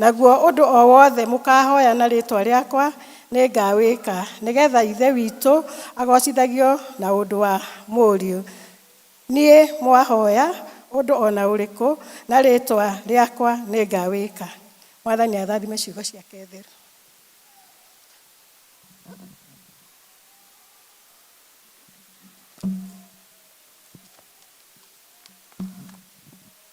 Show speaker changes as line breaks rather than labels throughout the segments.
Naguo ũndũ o wothe mũkaahoya na rĩĩtwa rĩakwa nĩngawĩka, nĩgeetha Ithe witũ agoocithagio na ũndũ wa Mũriũ. Niĩ mwahoya ũndũ o na ũrĩkũ na rĩĩtwa rĩakwa nĩngawĩka. Mwathani athathime ciugo ciake theru.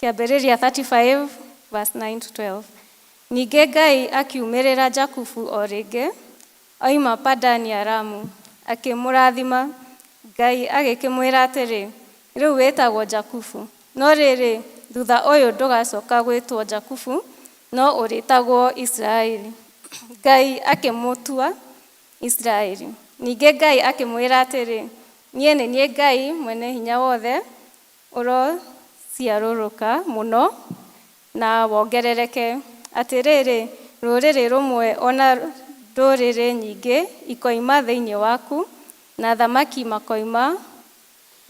Kĩambĩrĩria 35 verse 9-12 Ningĩ Ngai akiumĩrĩra Jakubu o rĩngĩ, oima Padani-aramu, akĩmũrathima. Ngai agĩkĩmwĩra atĩrĩ, Rĩu wĩtagwo Jakubu, no rĩrĩ, thutha ũyũ ndũgacoka gwĩtwo Jakubu, no ũrĩtagwo Isiraeli. Ngai akĩmũtua Isiraeli. Ningĩ Ngai akĩmwĩra atĩrĩ, Niĩ nĩ niĩ Ngai Mwene-Hinya-Wothe, ũrociarũrũka mũno na wongerereke. Atĩrĩrĩ, rũrĩrĩ rũmwe o na ndũrĩrĩ nyingĩ ikoima thĩinĩ waku, na athamaki makoima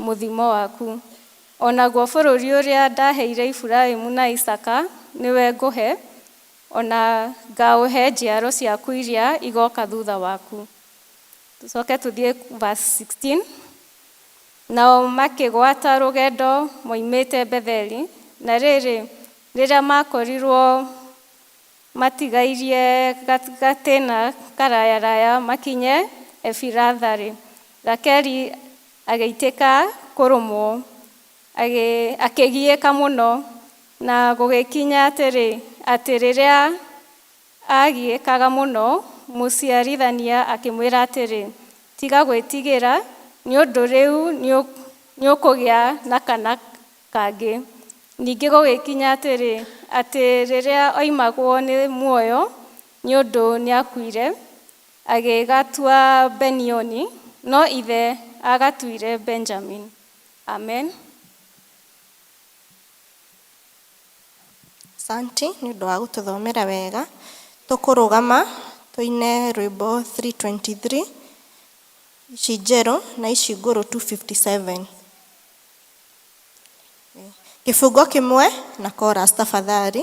mũthimo waku. O naguo bũrũri ũrĩa ndaheire Efuraimu na Isaaka nĩwe ngũhe, o na ngaũhe njiaro ciaku iria igoka thutha waku. Tũcoke tũthiĩ verse sixteen. Nao makĩgwata rũgendo moimĩte Betheli, na rĩrĩ, rĩrĩa maakorirwo matigairie gatĩna karayaraya makinye Efiratha-rĩ, Rakeli agĩitĩka kũrũmwo, akĩgiĩka mũno, na gũgĩkinya atĩrĩ, atĩ rĩrĩa Aagiĩkaga mũno, mũciarithania akĩmwĩra atĩrĩ, Tiga gwĩtigĩra, nĩ ũndũ rĩu nĩ ũkũgĩa na kana kangĩ. Ningĩ gũgĩkinya atĩrĩ, atĩ rĩrĩa oimagwo nĩ muoyo, nĩ ũndũ nĩ akuire, agĩgatua Benioni, no ithe aagatuire Benjamini. Amen.
Asanti nĩ ũndũ wa gũtũthomera wega. Tũkũrũgama tũine rwĩmbo three twenty three, ici njerũ na ici ngũrũ two fifty seven. Kĩbungo kĩmwe na chorus tafadhali.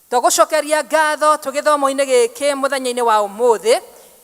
Twagũcokeria ngatho twĩ gĩthomo-inĩ gĩkĩ mũthenya-inĩ wa ũmũthĩ.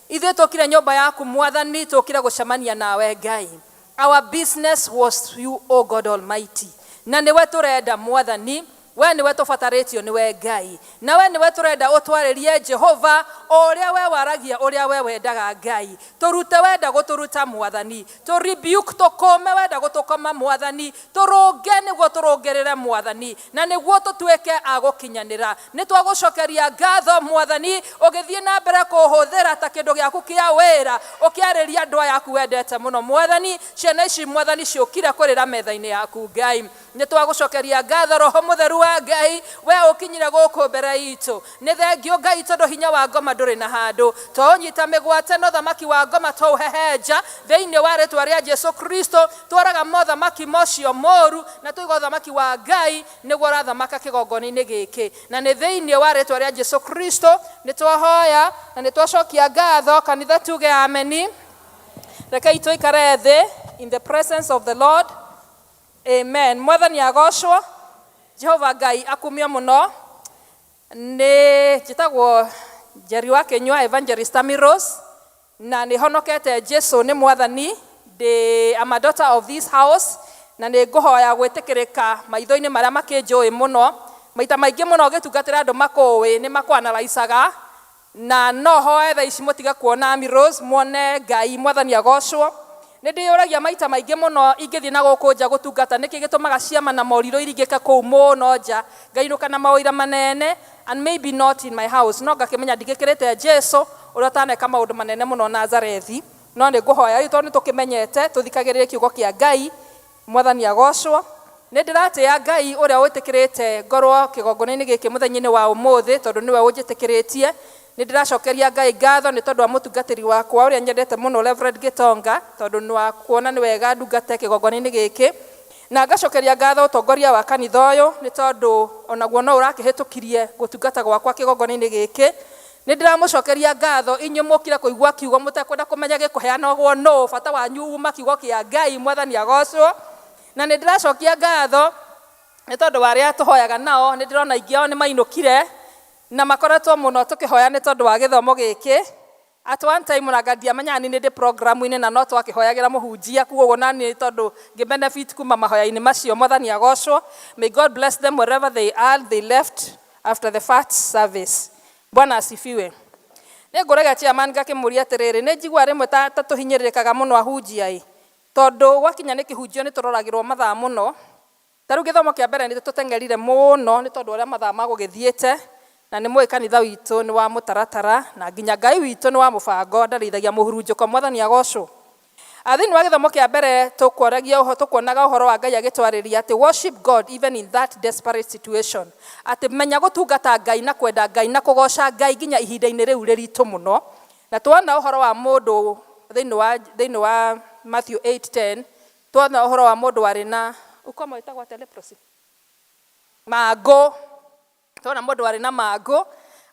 Ithuĩ tũkire nyũmba yaku Mwathani, tũkire gũcemania nawe Ngai. Our business was you O God Almighty. Na nĩwe tũrenda Mwathani, we nĩwe tũbatarĩtio nĩwe Ngai. Nawe nĩwe tũrenda ũtwarĩrie Jehova, o ũrĩa we waragia ũrĩa we wendaga Ngai. Tũrute wenda gũtũruta Mwathani. Tũ rebuke tũkũũme wenda gũtũkoma Mwathani. Tũrũnge nĩguo tũrũngĩrĩre Mwathani, na nĩguo tũtuĩke a gũkinyanĩra. Nĩ twagũcokeria ngatho, Mwathani, ũgĩthiĩ na mbere kũhũthĩra ta kĩndũ gĩaku kĩa wĩra, ũkĩarĩria andũ aya aku wendete mũno. Mwathani, ciana ici, Mwathani, ciũkire kũrĩra metha-inĩ yaku. Ngai, nĩ twagũcokeria ngatho, Roho Mũtheru wa Ngai, wee ũkinyire gũkũ mbere itũ, Nĩ thengiũ Ngai tondũ hinya wa ngoma ndũrĩ na handũ. Twaũnyita mĩgwate na ũthamaki wa ngoma twaũhehenja thĩinĩ wa rĩtwa rĩa Jesu Kristo, tũraga mothamaki mocio moru na twaiga ũthamaki wa Ngai nĩguo ũrathamaka kĩgongonainĩ gĩkĩ. Na nĩ thĩinĩ wa rĩtwa rĩa Jesu Kristo nĩ twahoya na nĩ twacokia ngatho. Kanitha tuge ameni. Rekei tũikare thĩ in the presence of the Lord. Amen mwathani agocwo Jehova Ngai akumio muno ni njitagwo Njeri wa Kinyua Evangelist Tammy Rose na ni honokete Jesu ni mwathani ndi am a daughter of this house na ni nguhoya gwitikirika maithoini maria makinjui muno maita maingi muno ngitungatira andu makuwi ni makuanalaisaga Na no hoe thaa ici mũtige kuona Ami Rose, muone Ngai. Mwathani agoocwo. Nĩ ndĩyũragia maita maingĩ mũno ingĩthiĩ na gũkũ nja gũtungata, nĩkĩ gĩtũmaga ciama na morirũ iringĩke kũu mũno nja, ngainũka na maũira maneene, and maybe not in my house. No ngakĩmenya ndigĩkĩrĩte Jesu, ũrĩa ũtaneka maũndũ maneene mũno Nazarethi. No nĩ ngũhoya rĩu tondũ nĩ tũkĩmenyete, tũthikagĩrĩrie Kiugo kĩa Ngai. Mwathani agoocwo! Nĩ ndĩratĩĩa Ngai ũrĩa wĩtĩkĩrĩte ngorwo kĩgongonainĩ gĩkĩ mũthenyainĩ wa ũmũthĩ, tondũ nĩwe ũnjĩtĩkĩrĩtie. Nĩ ndĩracookeria Ngai ngaatho nĩ tondũ wa mũtungatĩri wakwa ũrĩa nyendete mũno Reverend Gitonga, tondũ nwa kuona nĩ wega ndungate kĩgongonainĩ gĩkĩ. Na ngacookeria ngaatho ũtongoria wa kanitha ũyũ, nĩ tondũ o naguo no ũrakĩhĩtũkirie gũtungata gwakwa kĩgongonainĩ gĩkĩ, Nĩ ndĩramũcokeria ngatho inyuĩ mũũkire kũigua kiugo mũtekwenda kũmenya gĩkũheanagwo nũũ, bata wanyu uuma kiugo kĩa Ngai, Mwathani agoocwo. Na nĩ ndĩracokia ngatho nĩ tondũ wa arĩa tũhoyaga nao, nĩ ndĩrona aingĩ ao nĩ mainũkire na makoretwo mũno tũkĩhoya nĩ tondũ wa gĩthomo gĩkĩ. At one time ona anga ndiamenyaga nĩ niĩ ndĩ programu-inĩ na no twakĩhoyagĩra mũhunjia, kwoguo na niĩ tondũ ngĩ benefit kuuma mahoya-inĩ macio, Mwathani agoocwo. May God bless them wherever they are, they left After the first service. Bwana asifiwe. Nĩ ngũragia chairman ngakĩmũria atĩrĩrĩ, nĩ njiguaga rĩmwe ta, ta tũhinyĩrĩrĩkaga mũno ahunjia ĩ. Tondũ gwakinya nĩ kĩhunjio nĩ tũroragĩrwo mathaa mũno. Ta rĩu gĩthomo kĩa mbere nĩ tũteng'erire mũno nĩ tondũ wa ũrĩa mathaa magũgĩthiĩte. Na nĩ mũĩ kanitha witũ nĩ wa mũtaratara, na nginya Ngai witũ nĩ wa mũbango, ndarĩithagia mũhurunjũko. Mwathani agocwo. A Thĩinĩ wa gĩthomo kĩa mbere tũkũaragia ũho, tũkuonaga ũhoro wa Ngai agĩtwarĩria atĩ worship God even in that desperate situation, atĩ menya gũtungata Ngai na kwenda Ngai na kũgooca Ngai nginya ihinda-inĩ rĩu rĩritũ mũno. Na tuona ũhoro wa mũndũ thĩinĩ wa thĩinĩ wa Matthew 8:10, tuona ũhoro wa mũndũ warĩ na ukoma wĩtagwo atĩa? Leprosy? Mangũ. Twana mũndũ warĩ na mangũ,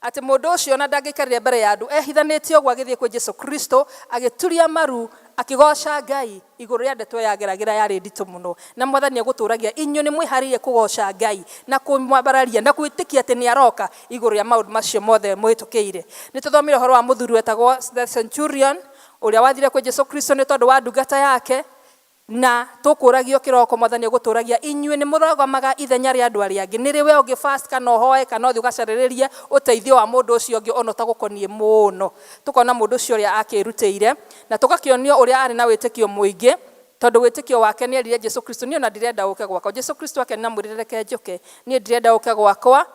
atĩ mũndũ ũcio ona ndangĩaikarire mbere ya andũ ehithanĩtie ũguo agĩthiĩ kwĩ Jesu Kristo, agĩturia maru, akĩgooca Ngai igũrũ rĩa ndeto ĩyo ya Geragĩra yarĩ nditũ mũno. Na Mwathani egũtũũragia inyuĩ nĩ mwĩhaarĩirie kũgooca Ngai na kũmwambararia na gwĩtĩkia atĩ nĩ aroka igũrũ rĩa maũndũ macio mothe mũhĩtũkĩire. Nĩ tũthomire ũhoro wa mũthuri wetagwo the centurion, ũrĩa wathire kwĩ Jesu Kristo nĩ tondũ wa ndungata yake, Na tũkũũragio kĩroko, Mwathani agũtũũragia, inyuĩ nĩmũrũgamaga ithenya rĩa andũ arĩa angĩ, nĩrĩ wee ũngĩ fast kana ũhoe kana ũthiĩ ũgacarĩrĩrie ũteithio wa mũndũ ũcio ũngĩ o na ũtagũkoniĩ mũno. Tũkona mũndũ ũcio ũrĩa akĩĩrutĩire na tũgakĩonio ũrĩa aarĩ na wĩtĩkio mũingĩ tondũ wĩtĩkio wake nĩerire Jesu Kristo, Niĩ o na ndirenda ũũke gwakwa. Jesu Kristo akenena amwĩrĩre, Reke njũke. Niĩ ndirenda ũũke gwakwa.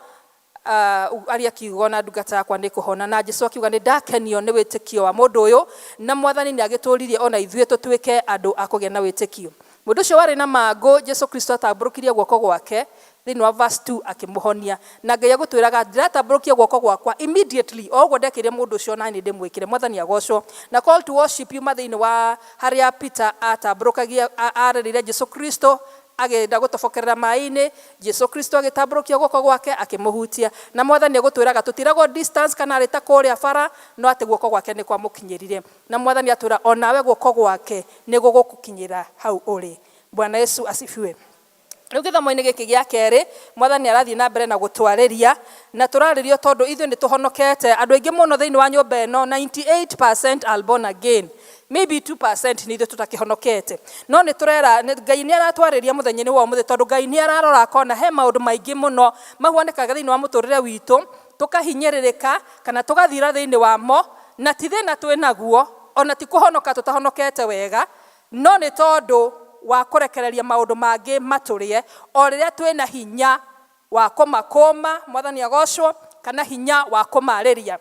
Aah, aria kiugo na ndungata yakwa nĩkũhona. Na Jesu akiuga, Nĩndakenio nĩ wĩtĩkio wa mũndũ ũyũ, na Mwathani nĩagĩtũririe o na ithuĩ tũtuĩke andũ a kũgĩa na wĩtĩkio. Mũndũ ũcio warĩ na mangũ, Jesu Kristo atambũrũkirie guoko gwake, thĩinĩ wa verse two, akĩmũhonia. Na Ngai agũtwĩraga, Ndiratambũrũkia guoko gwakwa, immediately, o ũguo ndekĩire mũndũ ũcio o na niĩ ndĩmwĩkĩre. Mwathani agocwo. Na call to worship yuma thĩinĩ wa harĩa Peter aatambũrũkagia, aarereire Jesu Kristo, akĩenda gũtobokerera maĩ-inĩ, Jesu Kristo agĩtambũrũkia guoko gwake akĩmũhutia. Na Mwathani agũtwĩraga tũtiragwo distance kana arĩ ta kũrĩa bara, no atĩ guoko gwake nĩ kwamũkinyĩrire. Na Mwathani atwĩra o nawe guoko gwake nĩ gũgũkũkinyĩra hau ũrĩ. Bwana Yesu asifiwe. Rĩu gĩthomo-inĩ gĩkĩ gĩa kerĩ, Mwathani arathiĩ na mbere na gũtwarĩria, na tũrarĩrio tondũ ithuĩ nĩ tũhonokete. Andũ aingĩ mũno thĩinĩ wa nyũmba ĩno, 98% are born again. Maybe 2% nĩ ithuĩ tũtakĩhonokete. No nĩ tũrera, Ngai nĩ aratwarĩria mũthenya-inĩ wa ũmũthĩ tondũ Ngai nĩ ararora akona he maũndũ maingĩ mũno mahuanĩkaga thĩinĩ wa mũtũrĩre witũ, tũkahinyĩrĩrĩka kana tũgathira thĩinĩ wamo, na ti thĩna twĩ naguo, ona ti kũhonoka tũtahonokete wega, no nĩ tondũ wa kũrekereria maũndũ mangĩ matũrĩe, o rĩrĩa twĩ na hinya wa kũmakũũma, Mwathani agocwo, kana hinya wa kũmarĩria.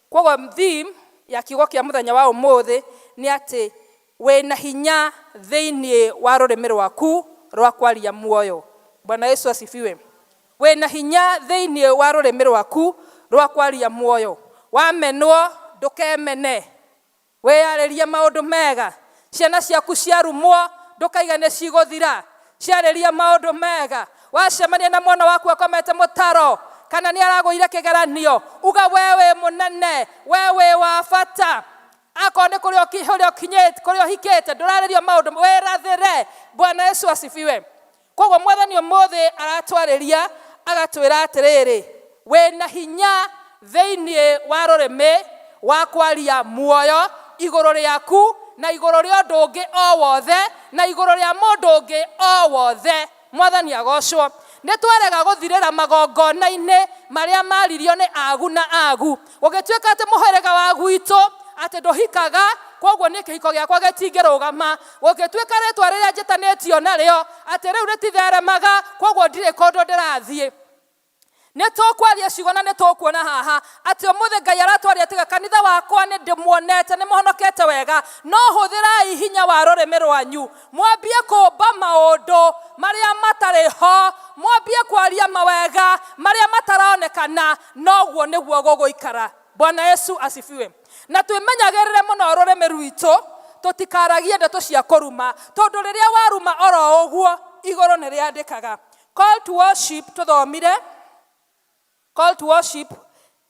Kwoguo theme ya kiugo kĩa mũthenya wa ũmũthĩ nĩ atĩ wĩna hinya thĩinĩ wa rũrĩmĩ rwaku rwa kwaria muoyo. Bwana Yesu asifiwe. Wĩna hinya thĩinĩ wa rũrĩmĩ rwaku rwa kwaria muoyo. Wamenwo ndũkemene. Wĩyarĩrie maũndũ mega. Ciana ciaku ciarumwo, ndũkaiga nĩ cigũthira. Ciarĩrie maũndũ mega. Wacemania na mwana waku akomete mũtaro, kana nĩ aragũire kĩgeranio, uga, Wee wĩ mũnene. Wee wĩ wa bata. Akorwo nĩ kũrĩa ũhikĩte, ndũrarĩrio maũndũ, wĩrathĩre. Bwana Yesu asifiwe. Kwoguo Mwathani ũmũthĩ aratwarĩria agatwĩra atĩrĩrĩ, Wĩ na hinya thĩinĩ wa rũrĩmĩ wa kwaria muoyo igũrũ rĩaku na igũrũ rĩa ũndũ ũngĩ o wothe na igũrũ rĩa mũndũ ũngĩ o wothe. Mwathani agoocwo. Nĩ twarega gũthirĩra magongona-inĩ marĩa maaririo nĩ aagu na aagu. gũgĩtuĩka atĩ mũhĩrĩga wa gwitũ atĩ ndũhikaga koguo nĩ kĩhiko gĩakwa gĩtingĩrũgama gũgĩtuĩka rĩtwa rĩrĩa njĩtanĩtio narĩo atĩ rĩu rĩtitheremaga koguo ndirĩ kũndũ ndĩrathiĩ nĩ tũkwaria ciugo na nĩ tũkuona haha atĩ ũmũthĩ ngai aratwaria tiga kanitha wakwa nĩ ndĩmuonete nĩ mũhonokete wega no hũthĩrai hinya wa rũrĩmĩ rwanyu mwambie kũmba maũndũ marĩa matarĩ ho mwambie kwaria mawega marĩa mataronekana Noguo nĩguo gũgũikara. Bwana Yesu asifiwe. Na twĩmenyagĩrĩre mũno rũrĩmĩ rwitũ tũtikaragie ndeto cia kũruma tondũ rĩrĩa waruma oro ũguo igũrũ nĩ rĩandĩkaga. Call to worship tũthomire call to worship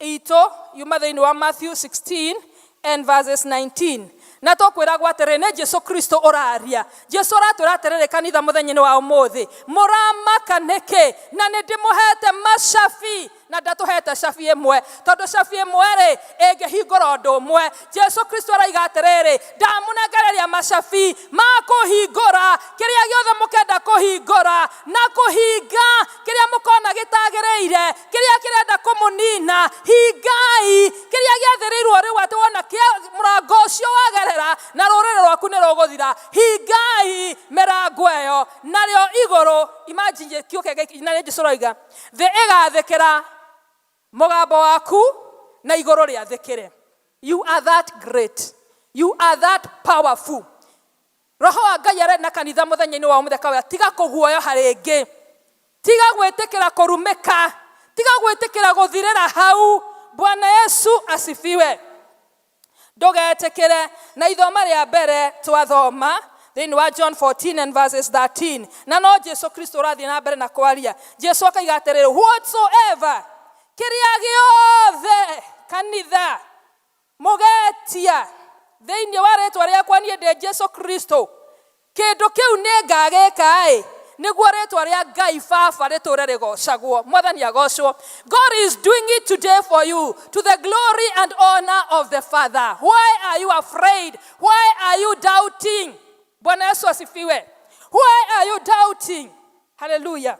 itũ yuma thĩinĩ wa Matthew 16 And verses 19 na tũkwĩragwo atĩrĩ nĩ jesu kristo ũraria jesu aratwĩra atĩrĩrĩ kanitha mũthenya-inĩ wa ũmũthĩ mũramaka nĩkĩ na nĩ ndĩmũhete macabi na ndatũhete cabi ĩmwe tondũ cabi ĩmwe-rĩ ĩngĩhingũra ũndũ ũmwe jesu kristo araiga atĩrĩrĩ ndamũnengereria macabi ma kũhingũra kĩrĩa gĩothe mũkenda kũhingũra na kũhinga kĩrĩa mũkona gĩtagĩrĩire kĩrĩa kĩrenda kũmũnina hingai kĩrĩa gĩathĩrĩirwo rĩu atĩ wona kĩa mũrango ũcio wagerera na rũrĩrĩ rwaku nĩ rũgũthira hingai mĩrango ĩyo narĩo igũrũ imagine kĩũke gĩki- na nĩnjĩ cũroiga thĩ ĩgathĩkĩra mũgambo waku na igũrũ rĩathĩkĩre you are that great you are that powerful Roho wa Ngai arĩ na kanitha mũthenya-inĩ wa ũmũtheka ũya. Tiga kũguoyoha rĩngĩ. Tiga gwĩtĩkĩra kũrumĩka. Tiga gwĩtĩkĩra gũthirĩra hau. Bwana Yesu asifiwe. Ndũgetĩkĩre. Na ithoma rĩa mbere twathoma thĩinĩ wa John 14 and verses 13. Na no Jesu Kristo ũrathiĩ na mbere na kwaria. Jesu akaiga atĩrĩrĩ, whatsoever, kĩrĩa gĩothe, kanitha, Mũgeetia thĩinĩ wa rĩĩtwa rĩakwa niĩ ndĩ Jesu Kristo, kĩndũ kĩu nĩngagĩĩka-ĩ, nĩguo rĩĩtwa rĩa Ngai Baba rĩtũũre rĩgoocagwo. Mwathani agoocwo. God is doing it today for you to the glory and honour of the Father. Why are you afraid? Why are you doubting? Bwana Yesu asifiwe. Why are you doubting? Hallelujah.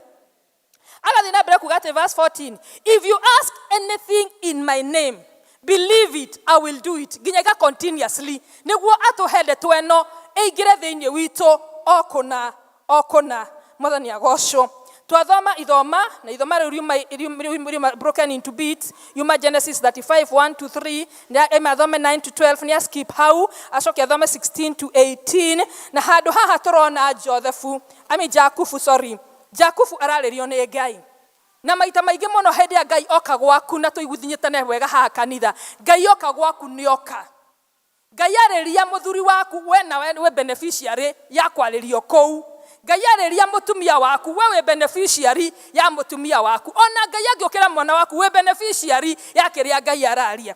agathiĩ na mbere kuga atĩ verse 14 if you ask anything in my name believe it i will do it nginya iga continuously nĩguo atũhe ndeto ĩno ĩingĩre thĩinĩ witũ o kũna o kũna mwathani agocwo twathoma ithoma na ithoma rĩu riuma- riuma- riuma- riuma- broken into bits yuma genesis 35 1 to 3 na ema athome 9 to 12 nĩ askip hau acoke athome 16 to 18 na handũ haha tũrona jothethu ami jakubu sorry Jakubu ararĩrio nĩ Ngai. Na maita maingĩ mũno hĩndĩ ĩrĩa Ngai oka gwaku na tũiguthnyĩtane wega haha kanitha, Ngai oka gwaku nĩ oka. Ngai arĩria mũthuri waku we nawe wĩ beneficiary ya kwarĩrio kũu. Ngai arĩria mũtumia waku we wĩ beneficiary ya mũtumia waku. Ona Ngai angĩũkĩra mwana waku wĩ beneficiary ya kĩrĩa Ngai araria.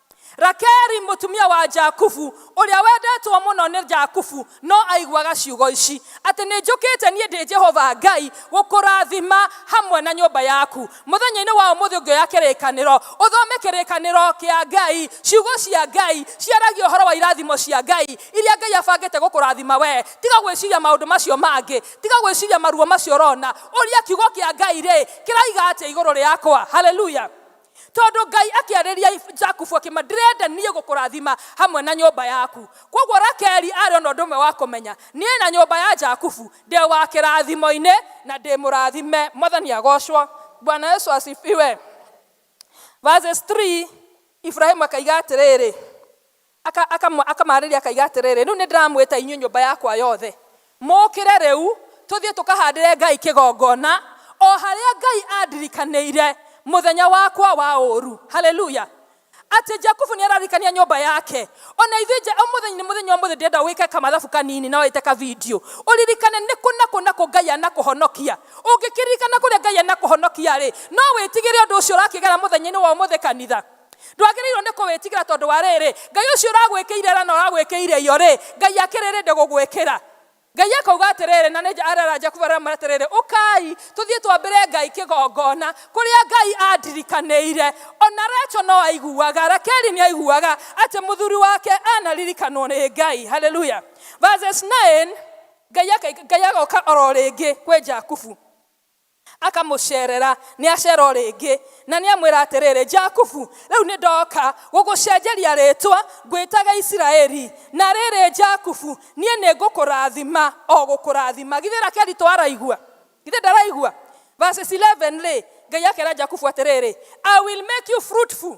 rakeri mũtumia wa jakubu ũrĩa wendetwo mũno nĩ jakubu no aiguaga ciugo ici atĩ nĩ njũkĩte niĩ ndĩ jehova ngai gũkũrathima hamwe na nyũmba yaku mũthenya-inĩ wa ũmũthĩ ũngĩoya kĩrĩkanĩro ũthome kĩrĩkanĩro kĩa ngai ciugo cia ngai ciaragia ũhoro wa irathimo cia ngai iria ngai abangĩte gũkũrathima we tiga gwĩciria maũndũ macio mangĩ tiga gwĩciria maruo macio ũrona ũria kiugo kĩa ngai rĩ kĩraiga atĩa igũrũ rĩakwa haleluya Tondũ Ngai akĩarĩria Jakubu akĩma, ndĩrenda niĩ gũkũrathima hamwe na nyũmba yaku. Kwoguo Rakeli arĩ o na ũndũ ũmwe wa kũmenya, niĩ na nyũmba ya Jakubu ndĩ wa kĩrathimo-inĩ na ndĩ mũrathime. Mwathani agocwo. Bwana Yesu asifiwe. Verses 3, Ibrahimu akaiga atĩrĩrĩ, Aka, aka, akamaarĩria akaiga atĩrĩrĩ, Rĩu nĩndĩramwĩta inyuĩ nyũmba yakwa yothe, mũũkĩre rĩu, tũthiĩ tũkahaandĩre Ngai kĩgongona, o harĩa Ngai aandirikanĩire mũthenya wakwa wa ũũru. Haleluya! Atĩ Jakubu nĩararirikania nyũmba yake. O na ithuĩ, nja, ũmũthĩ, nĩ mũthenya ũmũthĩ ndĩrenda wĩke kamathabu kanini na wĩte kavindiũ, ũririkane nĩ kũ na kũ na kũ Ngai anakũhonokia. Ũngĩkĩririkana kũrĩa Ngai anakũhonokia-rĩ, no wĩtigĩre ũndũ ũcio ũrakĩgera mũthenya-inĩ wa ũmũthĩ, kanitha? ndwagĩrĩirwo nĩ kũwĩtigĩra tondũ wa rĩrĩ ngai ũcio ũragwĩkĩire ra na ũragwĩkĩire iyo rĩ ngai akĩrĩrĩ ndĩgũgwĩkĩra ngai akauga atĩrĩrĩ na nĩ arera jakubu arĩa mara atĩrĩrĩ ũkai tũthiĩ twambĩre ngai kĩgongona kũrĩa ngai andirikanĩire ona recho no aiguaga rakeli nĩ aiguaga atĩ mũthuri wake anaririkanwo nĩ ngai haleluya verses 9 ngai aka- ngai agoka oro rĩngĩ kwĩ jakubu Akamũceerera, nĩaceera o rĩngĩ, na nĩamwĩra atĩrĩrĩ, Jakubu, rĩu nĩndoka gũgũcenjeria rĩĩtwa, ngwĩtage Isiraeli. Na rĩrĩ, Jakubu, niĩ nĩngũkũrathima, o gũkũrathima. Githĩ Rakeli to araigua? Githĩ ndaraigua? Verses 11-rĩ, Ngai akeera Jakubu atĩrĩrĩ, I will make you fruitful.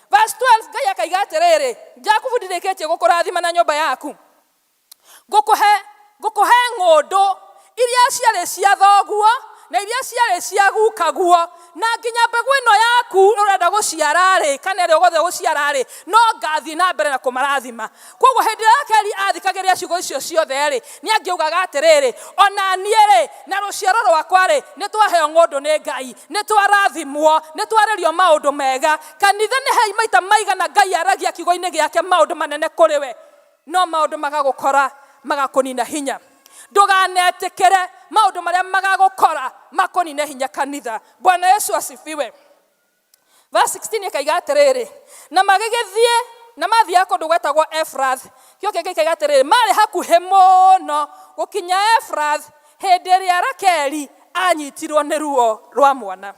Verse 12 Ngai akaiga atĩrĩrĩ, Jakubu ndirĩkĩtie gũkũrathima na nyũmba yaku. Ngũkũhe ngũkũhe ng'ũndũ iria ciarĩ cia thoguo na iria ciarĩ cia gukaguo na nginya mbegũ ĩno yaku ũrenda gũciara-rĩ kana ĩrĩa ũgothe gũciara-rĩ no ngathiĩ na mbere na kũmarathima koguo hĩndĩ ĩrĩa rakeri athikagĩrĩria ciugo icio ciothe-rĩ nĩ angĩugaga atĩrĩrĩ ona niĩ-rĩ na rũciaro rwakwa-rĩ nĩ twaheo ng'ũndũ nĩ ngai nĩ twarathimwo nĩ twarĩrio maũndũ mega kanitha nĩ hei maita maigana ngai aragia kiugo-inĩ gĩake maũndũ manene kũrĩ we no maũndũ magagũkora magakũnina hinya ndũganetĩkĩre maũndũ marĩa magagũkora makũnine hinya kanitha bwana yesu asifiwe verse 16 ĩkaiga atĩrĩrĩ na magĩgĩthiĩ na mathiaga kũndũ gwetagwo efrath kĩo kĩngĩ ikaiga atĩrĩrĩ marĩ hakuhĩ mũno gũkinya efrath hĩndĩ ĩrĩa rakeli anyitirwo nĩ ruo rwa mwana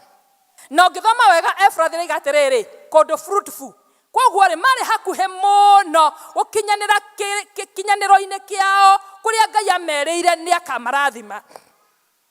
na ũngĩthoma wega efrath ĩraiga atĩrĩrĩ kũndũ fruitful koguo rĩ marĩ hakuhĩ mũno gũkinyanĩra kĩ- kĩ- kinyanĩro-inĩ kĩao kũrĩa ngai ameriire nĩ akamarathima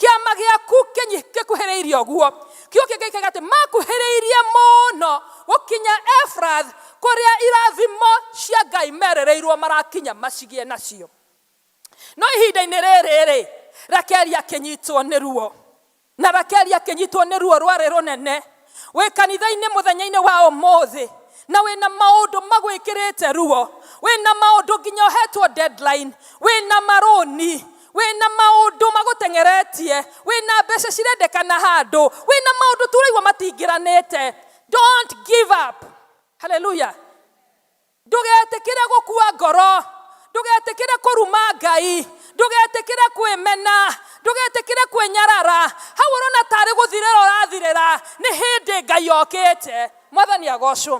kĩama gĩaku kĩnyi- gĩkuhĩrĩirie ũguo kiugo kĩngĩ kĩga atĩ makuhĩrĩirie mũno gũkinya efrath kũrĩa irathimo cia ngai merereirwo marakinya macigĩe nacio no ihinda-inĩ rĩrĩ-rĩ rakeli akĩnyitwo nĩ ruo na rakeli akĩnyitwo nĩ ruo rwarĩ rũnene Wĩ kanitha-inĩ mũthenya-inĩ wa ũmũthĩ na wĩ na maũndũ magwĩkĩrĩte ruo, wĩ na maũndũ nginya ũhetwo deadline, wĩ na marũni, wĩ na maũndũ magũteng'eretie, wĩ na mbeca cirendekana handũ, wĩ na maũndũ tũraigua matingĩranĩte. Don't give up. Hallelujah. Ndũgetĩkĩre gũkua ngoro. Ndũgetĩkĩre kũruma Ngai. Ndũgetĩkĩre kwĩmena. Ndũgetĩkĩre kwĩnyarara. Hau ũrona ta arĩ gũthirĩra ũrathirĩra, nĩ hĩndĩ Ngai okĩte. Mwathani agocwo.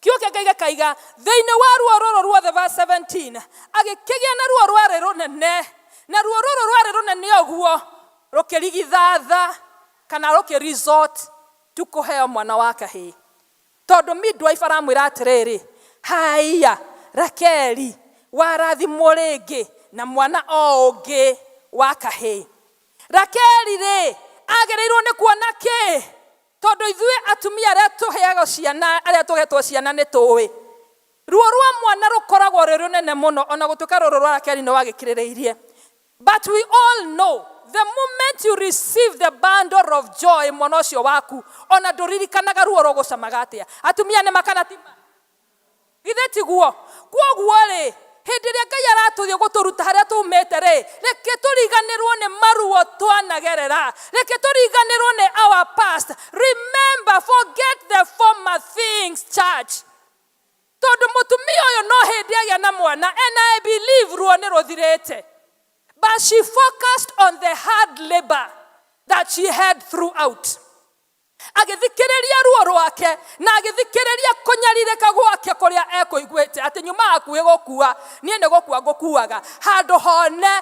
Kiugo kĩa Ngai gĩkaiga, thĩinĩ wa ruo rũrũ ruothe, verse 17, agĩkĩgĩa na ruo rwarĩ rũnene, na ruo rũrũ rwarĩ rũnene ũguo rũkĩrigithatha kana rũkĩresort tu kũheo mwana wa kahĩĩ. Tondũ midwife aramwĩra atĩrĩrĩ, Haiya, Rakeli, warathimwo rĩngĩ na mwana o ũngĩ wa kahĩĩ. Rakeli-rĩ, agĩrĩirwo nĩ kuona kĩ? Tondũ ithuĩ atumia arĩa tũheagwo ciana, arĩa tũhetwo ciana nĩ tũĩ. Ruo rwa mwana rũkoragwo rwĩ rũnene mũno, o na gũtuĩka rũrũ rwa Rakeli nĩ wagĩkirĩrĩirie. But we all know the moment you receive the bundle of joy mwana ũcio waku ona ndũririkanaga ruo rũgũcamaga atĩa atumia nĩ makana ti ma githĩ tiguo kwoguo rĩ hĩndĩ ĩrĩa ngai aratũthiĩ gũtũruta harĩa tumĩte rĩ reke tũriganĩrwo nĩ maruo twanagerera reke tũriganĩrwo nĩ our past remember forget the former things church Tondũ mũtumia ũyũ no hĩndĩ agĩa na mwana and I believe ruo nĩ rũthirĩte. But she focused on the hard labor that she had throughout. Agĩthikĩrĩria ruo rwake na agĩthikĩrĩria kũnyarirĩka gwake kũrĩa ekũiguĩte atĩ nyuma hakuhĩ gũkua niĩ nĩ gũkua ngũkuaga handũ hone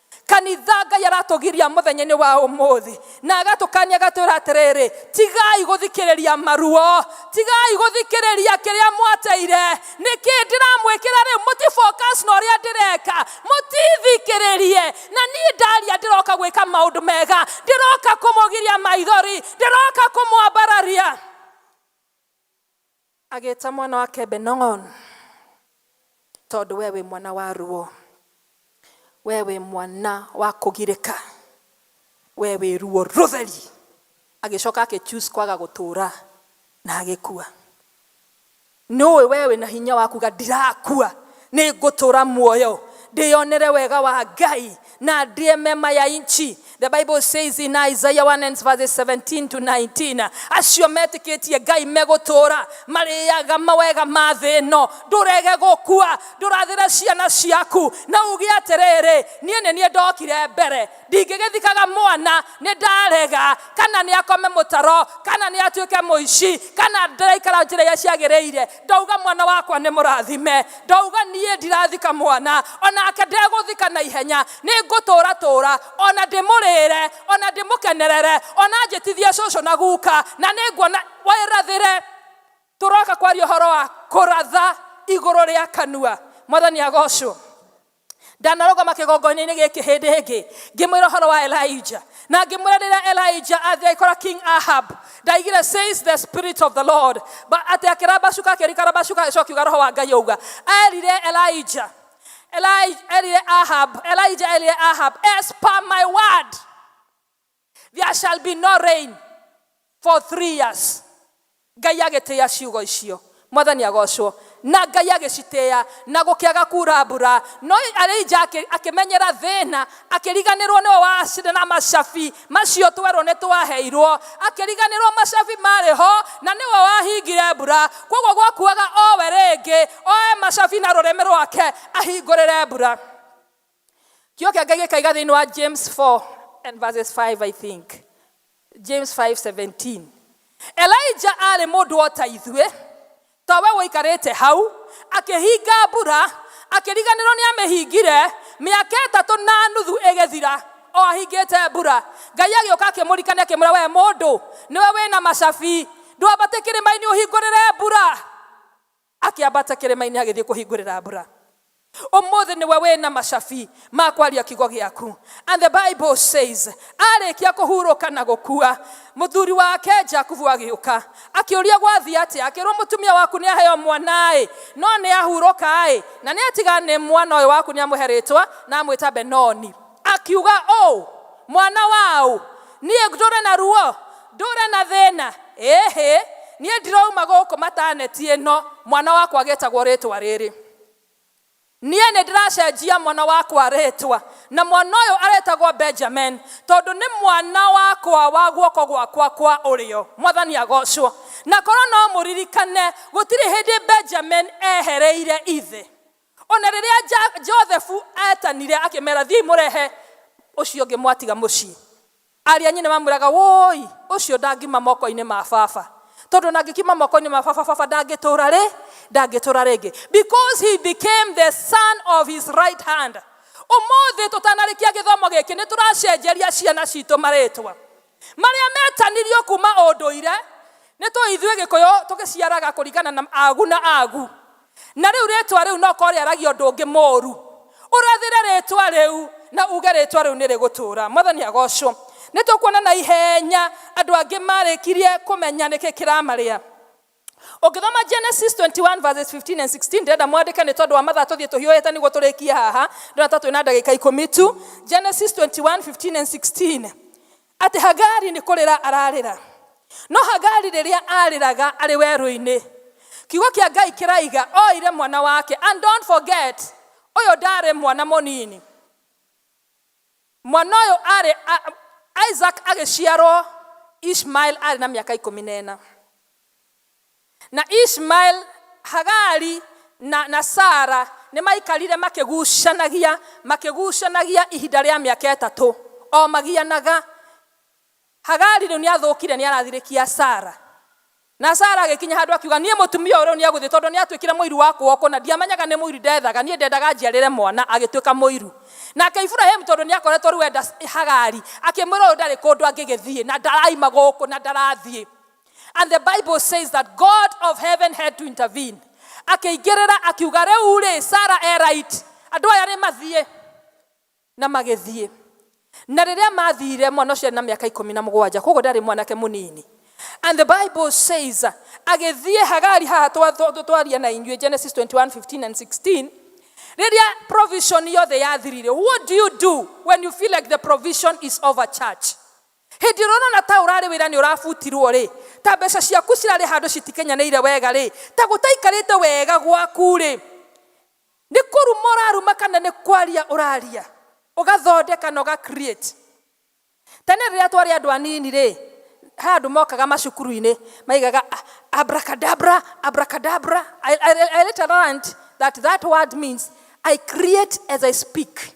Kanitha, Ngai aratũgiria mũthenya-inĩ wa ũmũthĩ na agatũkania agatwĩra atĩrĩrĩ, tigai gũthikĩrĩria maruo, tigai gũthikĩrĩria kĩrĩa mwateire. Nĩkĩ ndĩramwĩkĩra rĩu? Mũti focus na ũrĩa ndĩreka, mũtithikĩrĩrie. Na niĩ ndaria ndĩroka gwĩka maũndũ mega, ndĩroka kũmũgiria maithori, ndĩroka kũmwambararia. Agĩĩta mwana wake Benong'on, tondũ wee wĩ mwana wa ruo, wee wĩ mwana wa kũgirĩka, wee wĩ ruo rũtheri. Agĩcoka agĩ choose kwaga gũtũũra na agĩkua. Nĩũĩ wee wĩ na hinya wa kuga ndirakua, nĩ ngũtũũra muoyo, ndĩyonere wega wa Ngai, na ndiye mema ya nchi. The Bible says in Isaiah 1 and verse 17 to 19, acio metĩkĩtie Ngai megũtũũra marĩaga mawega ma thĩ ĩno, ndũrege gũkua, ndũrathĩre ciana ciaku na uge atĩrĩrĩ, niĩ nĩ niĩ ndokire mbere, ndingĩgĩthikaga mwana, nĩ ndarega kana nĩ akome mũtaro, kana nĩ atuĩke mũici, kana ndĩraikara njĩra iria ciagĩrĩire, Ndauga mwana wakwa nĩ mũrathime, ndauga niĩ ndirathika mwana, o nake ndegũthika na ihenya. Nĩ ngũtũũra tũũra, o na ndĩmũrĩĩre, o na ndĩmũkenerere, o na anjĩtithie cũcũ na guka, na nĩ nguona wĩrathĩre. Tũroka kwaria ũhoro wa kũratha igũrũ rĩa kanua. Mwathani agoocwo. Ndanarũgama kĩgongoinĩ-inĩ gĩkĩ hĩndĩ ĩngĩ, ngĩmwĩra ũhoro wa Elijah. Na ngĩmwĩra rĩrĩa Elijah athiĩ agĩkora King Ahab, ndaigire says the spirit of the Lord, Ba- atĩ akĩramba cuka akĩrikara macuka agĩcoka akiuga roho wa Ngai auga. Erire Elijah, Eli- erire Ahab, Elijah erire Ahab, as per my word. There shall be no rain for three years. Ngai agĩtĩa ciugo icio. Mwathani agocwo. Na Ngai agĩcitĩa na gũkĩaga kura mbura. No Elija akĩ- akĩmenyera thĩna, akĩriganĩrwo nĩwe wacire na macabi macio twerũ nĩ twaheirwo. Akĩriganĩrwo macabi marĩ ho na nĩwe wahingire mbura. Kwoguo gwakuaga owe rĩngĩ, oe macabi na rũrĩmĩ rwake ahingũrĩre mbura. Kĩo kĩa Ngai gĩkaiga thĩinĩ wa James 4 and verses 5 I think. James 5:17. Elijah arĩ mũndũ o ta ithuĩ, ta we ũikarĩte hau, akĩhinga mbura, akĩriganĩrwo nĩ amĩhingire, mĩaka ĩtatũ na nuthu ĩgĩthira, o ahingĩte mbura. Ngai agĩũka akĩmũrikania akĩmwĩra, we mũndũ, nĩwe wĩna macabi, ndwambate kĩrĩma-inĩ ũhingũrĩre mbura. Akĩambata kĩrĩma-inĩ agĩthiĩ kũhingũrĩra mbura. Ũmũthĩ nĩwe wĩ na macabi ma kwaria kiugo gĩaku. And the Bible says, arĩkia kũhurũka na gũkua, mũthuri wake Jakubu agĩũka. Akĩũria gwathiĩ atĩa, akĩrwo mũtumia waku nĩ aheo mwana-ĩ, no nĩ ahurũka-ĩ, na nĩ atiga nĩ mwana ũyũ waku nĩ amũhe rĩtwa na amwĩta Benoni. Akiuga ũũ, Mwana wa ũ, niĩ ndũre na ruo, ndũre na thĩna, ĩĩhĩ, niĩ ndirouma gũkũ mataneti ĩno, mwana wakwa gĩtagwo rĩtwa rĩrĩ. Niĩ nĩ ndĩracenjia mwana wakwa rĩtwa, na mwana ũyũ arĩtagwo Benjamin, tondũ nĩ mwana wakwa wa guoko gwakwa kwa ũrĩo. Mwathani agoocwo! Na korwo no mũririkane, gũtirĩ hĩndĩ Benjamin eehereire ithe. O na rĩrĩa Jothefu eetanire, akĩmeera, Thiĩi mũrehe ũcio ũngĩ mwatiga mũciĩ. Aarĩ a nyina mamwĩraga, Wũũi, ũcio ndangiuma moko-inĩ ma baba, tondũ o na angĩkiuma moko-inĩ ma baba, baba ndangĩtũũra rĩ, ndangĩtũũra rĩngĩ, because he became the son of his right hand. Ũmũthĩ tũtanarĩkia gĩthomo gĩkĩ, nĩ tũracenjeria ciana citũ marĩĩtwa. Marĩa metanirio kuma ũndũire, nĩ tũĩ ithuĩ Gĩkũyũ tũgĩciaraga kũringana na agu na agu. Na rĩu rĩtwa rĩu no korwo rĩaragia ũndũ ũngĩ mũru. Ũrathĩre rĩtwa rĩu na uge rĩtwa rĩu nĩrĩgũtũra. Mwathani agocwo. Nĩtũkuona na ihenya andũ angĩ marĩkirie kũmenya nĩkĩ kĩramarĩa. ũngĩthoma genesis 21 verses 15 and 16 ndĩrenda mwandĩke nĩ tondũ wa mathaa tũthiĩ tũhiũhĩte nĩguo tũrĩkie haha ndĩrona ta twĩ na ndagĩka ikũmi tu genesis 21 15 and 16 atĩ hagari nĩ kũrĩra ararĩra no hagari rĩrĩa arĩraga arĩ werũ-inĩ kiugo kĩa ngai kĩraiga oire mwana wake and don't forget ũyũ ndarĩ mwana mũnini Mwana ũyũ aarĩ a, Isaac agĩciarwo Ishmael aarĩ na mĩaka ikũmi na ĩna. Na Ishmael, Hagari, na, na Sara nĩ maikarire makĩgucanagia, makĩgucanagia ihinda rĩa mĩaka ĩtatũ, o magianaga. Hagari rĩu nĩathũkire, nĩarathirĩkia Sara. Na Sara agĩkinya handũ akiuga, Niĩ mũtumia ũyũ rĩu nĩegũthiĩ, tondũ nĩatuĩkire mũiru wa kũgokwo, na ndiamenyaga nĩ mũiru ndeethaga, niĩ ndendaga anjiarĩre mwana, agĩtuĩka mũiru. Nake Iburahimu, tondũ nĩakoretwo rĩu enda Hagari, akĩmwĩra, Ũyũ ndarĩ kũndũ angĩgĩthiĩ, na ndaraima gũkũ, na ndarathiĩ. And the Bible says that God of heaven had to intervene. Akĩingĩrĩra akiuga, Rĩu-rĩ, Sara e right, andũ aya nĩmathiĩ. Na magĩthiĩ. Na rĩrĩa mathiire, mwana ũcio arĩ na mĩaka ikũmi na mũgwanja, kwoguo ndarĩ mwanake mũnini. And the Bible says, agĩthiĩ, Hagari, haha twa- twa- twa- twaria na inyuĩ, Genesis 21, 15 and 16, rĩrĩa provision yothe yathirire. What do you do when you feel like the provision is over church? hĩndĩ ĩrĩa ũrona ta ũrarĩ wĩra nĩ ũrabutirwo rĩ ta mbeca ciaku cirarĩ handũ citikenyanĩire wega rĩ ta gũtaikarĩte wega gwaku rĩ Nĩ kũruma ũraruma kana nĩ kwaria ũraria ũgathondeka na ũga create. Tene rĩrĩa twarĩ andũ anini rĩ, he andũ mokaga macukuru-inĩ maigaga "Ah, abracadabra, abracadabra. I, I, I later learned that that word means I create as I speak.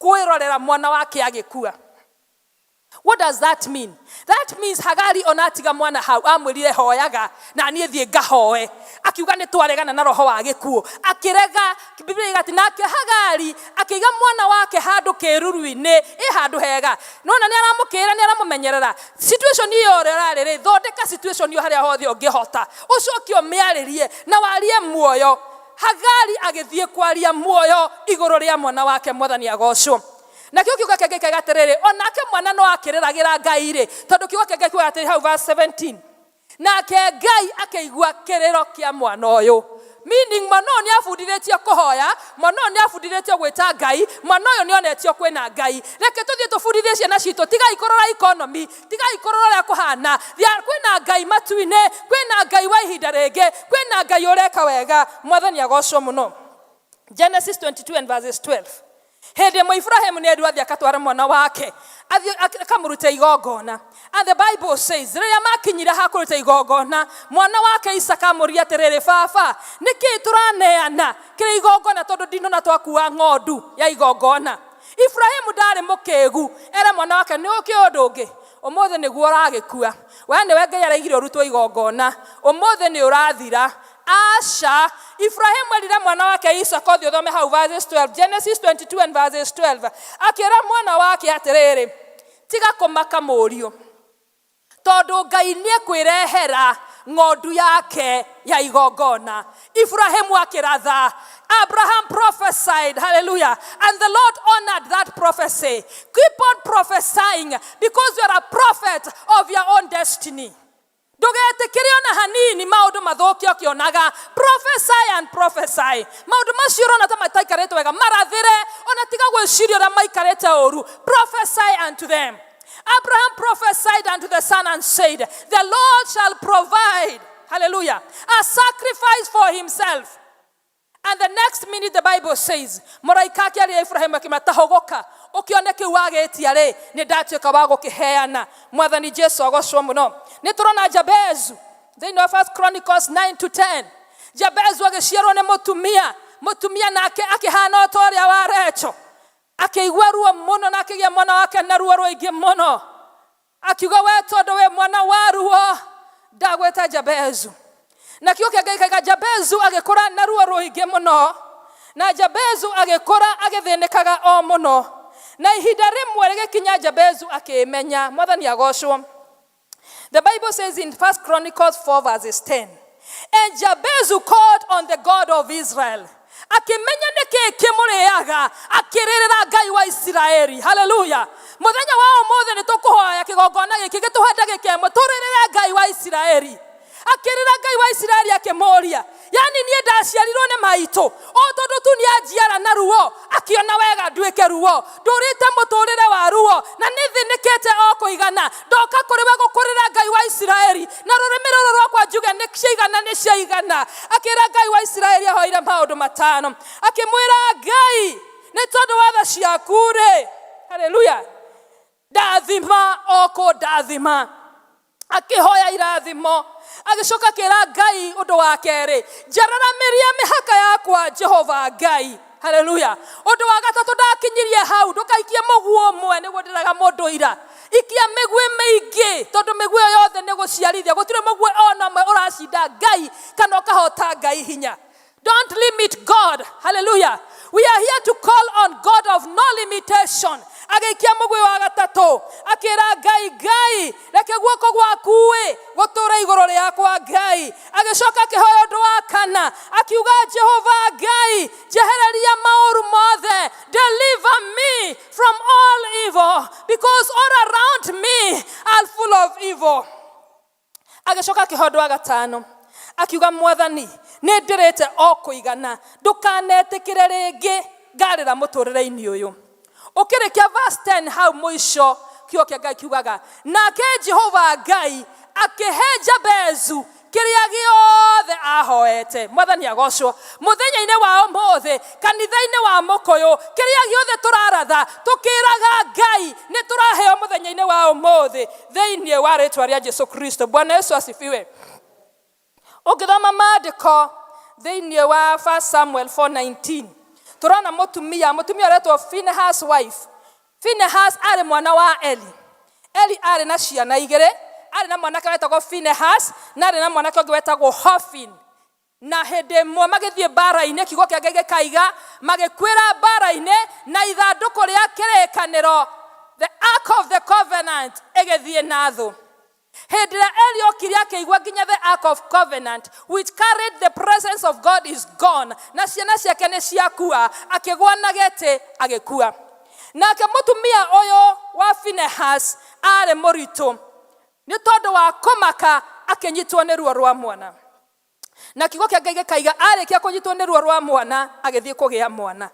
Kwĩrorera mwana wake agĩkua. What does that mean? That means Hagari ona atiga mwana hau amwĩrire hoyaga na niĩ thiĩ ngahoe. Akiuga nĩ twaregana na roho wa gĩkuũ. Akĩrega Biblia iga atĩ nake Hagari akĩiga mwana wake handũ kĩruru-inĩ ĩ handũ hega. Nona nĩ aramũkĩrĩra nĩ aramũmenyerera. Situation iyo ĩrĩa ũrarĩ rĩ thondeka situation iyo harĩa hothe ũngĩhota. Ũcoke ũmĩarĩrie na warie muoyo. Hagari agĩthiĩ kwaria muoyo igũrũ rĩa mwana wake. Mwathani agocwo. Nakĩo kiugo kĩa Ngai kĩoiga atĩrĩrĩ, o nake mwana no akĩrĩragĩra Ngai-rĩ, tondũ kiugo kĩa Ngai kiugaga atĩrĩ hau verse 17, nake Ngai akĩigua kĩrĩro kĩa mwana ũyũ. Meaning mwana ũyũ nĩ abundithĩtio kũhoya, mwana ũyũ nĩ abundithĩtio gwĩta Ngai, mwana ũyũ nĩ onetio kwĩna Ngai. Reke tũthiĩ tũbundithie ciana citũ, tigai kũrora economy, tigai kũrora ũrĩa kũhana Thia- kwĩna ngai matu-inĩ kwĩna ngai wa ihinda rĩngĩ kwĩna ngai ũreka wega mwathani agocwo mũno genesis 22 and verses 12 hĩndĩ ĩmwe iburahĩmu nĩ endu athiĩ akatwara mwana wake athiĩ ak- akamũruta igongona and the bible says rĩrĩa makinyire ha kũruta igongona mwana wake isaka amũria atĩrĩrĩ baba nĩkĩ tũraneana kĩrĩ igongona tondũ ndinona twakua ng'ondu ya igongona Iburahĩmu ndarĩ mũkĩgu ere mwana wake nĩ ũkĩũĩ ũndũ ũngĩ ũmũthĩ nĩguo ũragĩkua we nĩwe ngai araigire ũrutwo igongona ũmũthĩ nĩ ũrathira aca Iburahĩmu erire mwana wake Isaka ũthiĩ ũthome hau verses 12 Genesis 22 and verses 12 akĩra mwana wake atĩrĩrĩ tiga kũmaka mũriũ Tondũ Ngai nĩekwĩrehera ng'ondu yake ya igongona. Ibrahĩmu akĩratha. Abraham prophesied, hallelujah, and the Lord honored that prophecy. Keep on prophesying because you are a prophet of your own destiny. Ndũgetĩkĩre ona hanini maũndũ mathũke ũkĩonaga. Prophesy and prophesy. Maũndũ macio ũrona ta mataikarĩte wega, marathĩre, ona tiga gwĩciria ũrĩa maikarĩte ũru. Prophesy unto them. Abraham prophesied unto the son and said, The Lord shall provide, hallelujah, a sacrifice for himself. And the next minute the Bible says, Mũraika akĩaria Ibrahim akĩma tahogoka ũkĩone kĩu wagĩtia rĩ nĩ ndatuĩka wa gũkĩheana mwathani Jesu agocwo mũno nĩ tũrona Jabezu thĩinĩ wa First Chronicles 9 to 10 Jabezu agĩciarwo nĩ mũtumia mũtumia nake akĩhana o ta ũrĩa wa Recho Akĩigua ruo mũno na akĩgĩa mwana wake na ruo rũingĩ mũno. Akiuga, we tondũ wĩ mwana wa ruo, ndagwĩta Jabezu. Na kiugo kĩa Ngai kaiga Jabezu agĩkũra na ruo rũingĩ mũno. Na Jabezu agĩkũra agĩthĩnĩkaga o mũno. Na ihinda rĩmwe rĩgĩkinya Jabezu akĩĩmenya. Mwathani agocwo. The Bible says in First Chronicles 4, verses 10, And Jabez who called on the God of Israel, akĩmenya nĩkĩ kĩmũrĩaga akĩrĩrĩra ngai wa isiraeli haleluya mũthenya wa ũmũthĩ nĩ tũkũhoya kĩgongona gĩkĩ gĩtũhe ndagĩka ĩmwe tũrĩrĩre ngai wa isiraeli akĩrĩra ngai wa isiraeli akĩmũũria yani niĩ ndaciarirwo nĩ maitũ o tondũ tu nĩanjiara na ruo akĩona wega nduĩke ruo ndũrĩte mũtũrĩre wa ruo na nĩthĩnĩkĩte o kũigana ndoka kũrĩ we gũkũrĩra ngai wa isiraeli na rũrĩmĩ rũrũ rwakwa njuge nĩ ciaigana nĩ ciaigana akĩra ngai wa isiraeli ahoire maũndũ matano akĩmwĩra ngai nĩ tondũ wa tha ciaku rĩ haleluya ndathima o kũndathima akĩhoya irathimo agĩcoka akĩra ngai ũndũ wa kerĩ njararamirie mĩhaka yakwa jehova ngai haleluya ũndũ wa gatatũ ndakinyirie hau ndũkaikie mũguo ũmwe nĩguo ndĩraga mũndũ ira ikia mĩguĩ mĩingĩ tondũ mĩguĩ ĩyo yothe nĩ gũciarithia gũtirĩ mũguĩ ona ũmwe ũracinda ngai kana ũkahota ngai hinya Don't limit God. Hallelujah. We are here to call on God of no limitation. agĩikia mũgwĩ wa gatatũ akĩra ngai ngai reke guoko gwaku ĩ gũtũra igũrũ rĩakwa ngai agĩcoka akĩhoya ũndũ wa kana akiuga jehova ngai njehereria maũru mothe deliver me from all evil because all around me are full of evil Agĩcoka akĩoha ũndũ wa gatano, akiuga, Mwathani, nĩ ndĩrĩte o kũigana, ndũkanetĩkĩre rĩngĩ ngarĩra mũtũrĩre-inĩ ũyũ. Ũkĩrĩkia verse 10 hau mũico, kiugo kĩa Ngai kiugaga, nake Jehova Ngai akĩhe Jabezu kĩrĩa gĩothe ahoete. Mwathani agocwo. Mũthenya-inĩ wa ũmũthĩ, kanitha-inĩ wa mũkũyũ, kĩrĩa gĩothe tũraratha, tũkĩraga Ngai, nĩ tũraheo mũthenya-inĩ wa ũmũthĩ. Thĩinĩ wa rĩtwa rĩa Jesu Kristo, Bwana Yesu asifiwe. Ũngĩthoma maandĩko thĩinĩ wa 1 Samuel 4:19 tũrona mũtumia mũtumia ũretwo Finehas wife. Finehas arĩ mwana wa Eli. Eli arĩ na ciana igĩrĩ, arĩ na mwanake wetagwo Finehas na arĩ na mwanake ũngĩ wetagwo Hofin. Na hĩndĩ ĩmwe magĩthiĩ mbaara-inĩ, kiugo kĩa Ngai gĩkaiga, magĩkuĩra mbaara-inĩ, na ithandũkũ rĩa kĩrĩĩkanĩro, the ark of the covenant, ĩgĩthiĩ na thũ. Hĩndĩ ĩrĩa Eli okire akĩigua nginya the ark of covenant which carried the presence of God is gone, na ciana ciake nĩ ciakua, akĩgwa na gĩtĩ agĩkua. Nake mũtumia ũyũ wa Phinehas aarĩ mũritũ, nĩ tondũ wa kũmaka akĩnyitwo nĩ ruo rwa mwana. Na kiugo kĩa Ngai gĩkaiga arĩkia kũnyitwo nĩ ruo rwa mwana agĩthiĩ kũgĩa mwana.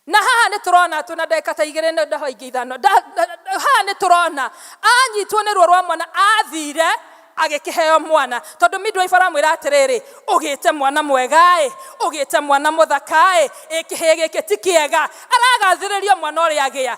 Na haha nĩ tũrona atĩ na ndagĩka ta igĩrĩ nĩ ndaho ingĩ ithano. Nda, nda, nda, haha nĩ tũrona anyitwo nĩ ruo rwa mwana athire agĩkĩheo mwana tondũ midwife aramwĩra atĩrĩrĩ ũgĩte mwana mwegaĩ ũgĩte mwana mũthakaĩ ĩ kĩhĩĩ gĩkĩ ti kĩega aragathĩrĩrio mwana ũrĩa agĩa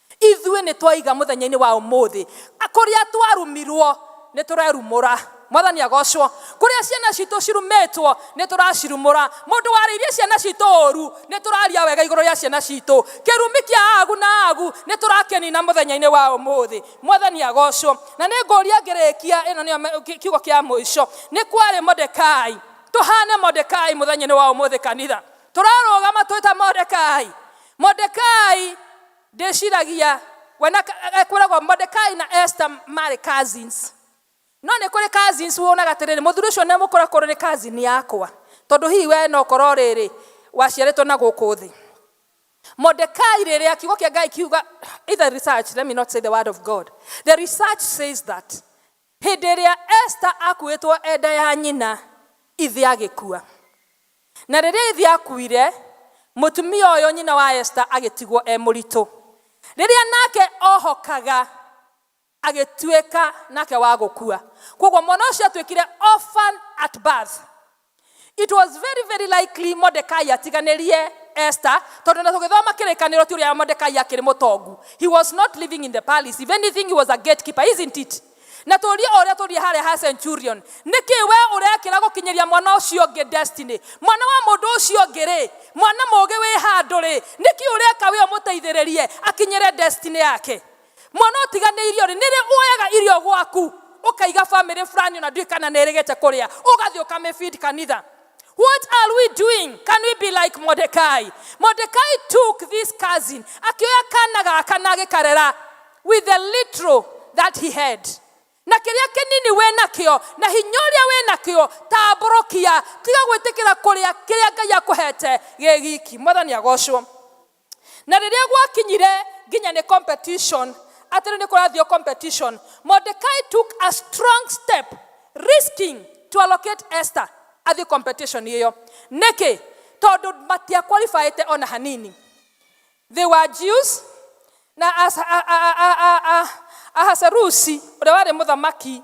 Ithuĩ nĩ twaiga mũthenya-inĩ wa ũmũthĩ. Kũrĩa twarumirwo, nĩ tũrerumũra. Mwathani agocwo. Kũrĩa ciana citũ cirumĩtwo, nĩ tũracirumũra. Mũndũ warĩirie ciana citũ ũũru, nĩ tũraria wega igũrũ rĩa ciana citũ. Kĩrumi kĩa Agu na Agu, nĩ tũrakĩnina mũthenya-inĩ wa ũmũthĩ. Mwathani agocwo. Na nĩ ngũria ngĩrĩkia, ĩno nĩyo me, kĩ, kiugo kĩa mũico. Nĩ kwarĩ Mordekai. Tũhaane Mordekai mũthenya-inĩ wa ũmũthĩ, kanitha. Tũrarũgama twĩ ta Mordekai. Mordekai ndĩciragia we na ekwĩragwo Mordekai na Esther marĩ cousins no nĩ kũrĩ cousins wonaga atĩrĩrĩ mũthuri ũcio nĩ mũkora korwo nĩ cousin yakwa tondũ hihi we no korwo rĩrĩ waciarĩtwo na gũkũ thĩ Mordecai rĩrĩa kiugo kĩa Ngai kiuga either research let me not say the word of God the research says that Hĩndĩ ĩrĩa Esta akuĩtwo e nda ya nyina, ithe agĩkua. Na rĩrĩa ithe akuire, mũtumia ũyũ nyina wa Esta agĩtigwo e mũritũ. Rĩrĩa nake ohokaga, agĩtuĩka nake wa gũkua. Kwoguo mwana ũcio atuĩkire orphan at birth. It was very very likely Mordecai atiganĩrie Esther tondũ na tũgĩthoma kĩrĩkanĩro ti ũrĩa Mordecai akĩrĩ mũtongu. He was not living in the palace. If anything he was a gatekeeper, isn't it? Na tũrie ũrĩa tũrie harĩa ha centurion. Nĩkĩ we ũrekĩra gũkinyĩria mwana ũcio ũngĩ destiny? Mwana wa mũndũ ũcio ũngĩ rĩ, mwana mũgĩ wĩ handũ rĩ, nĩkĩ ũreka we ũmũteithĩrĩrie akinyĩre destiny yake? mwana ũtiganĩirio rĩ nĩrĩ woyaga irio gwaku ũkaiga family fulani ona ndui kana nĩ ĩrĩgĩte kũrĩa ũgathiĩ ũkamĩfeed kanitha What are we doing? Can we be like Mordecai? Mordecai took this cousin, akioya kana gaka na agĩkarera with the little that he had. Na kĩrĩa kĩnini wĩ nakĩo, na hinya ũrĩa wĩ nakĩo, tambũrũkia, tiga gwĩtĩkĩra kũrĩa kĩrĩa Ngai akũhete gĩ giki. Mwathani agocwo. Na rĩrĩa gwakinyire nginya nĩ competition, atĩ rĩu nĩ kũrathio competition, Mordecai took a strong step risking to allocate Esther athiĩ competition ĩyo. Nĩkĩ? Tondũ matia qualified ona hanini. They were Jews na Asa- a- a- a- a- a- Ahasuerusi ũrĩa warĩ mũthamaki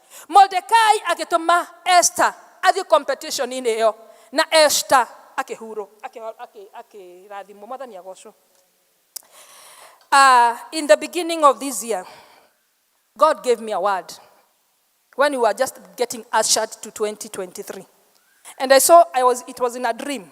Mordekai agĩtũma Esther athiĩ competition-inĩ ĩyo, na Esther akĩhurũ, akĩho- akĩ- akĩrathimwo, mwathani agocwo. Uh, in the beginning of this year, God gave me a word when we were just getting ushered to 2023. And I saw I was it was in a dream.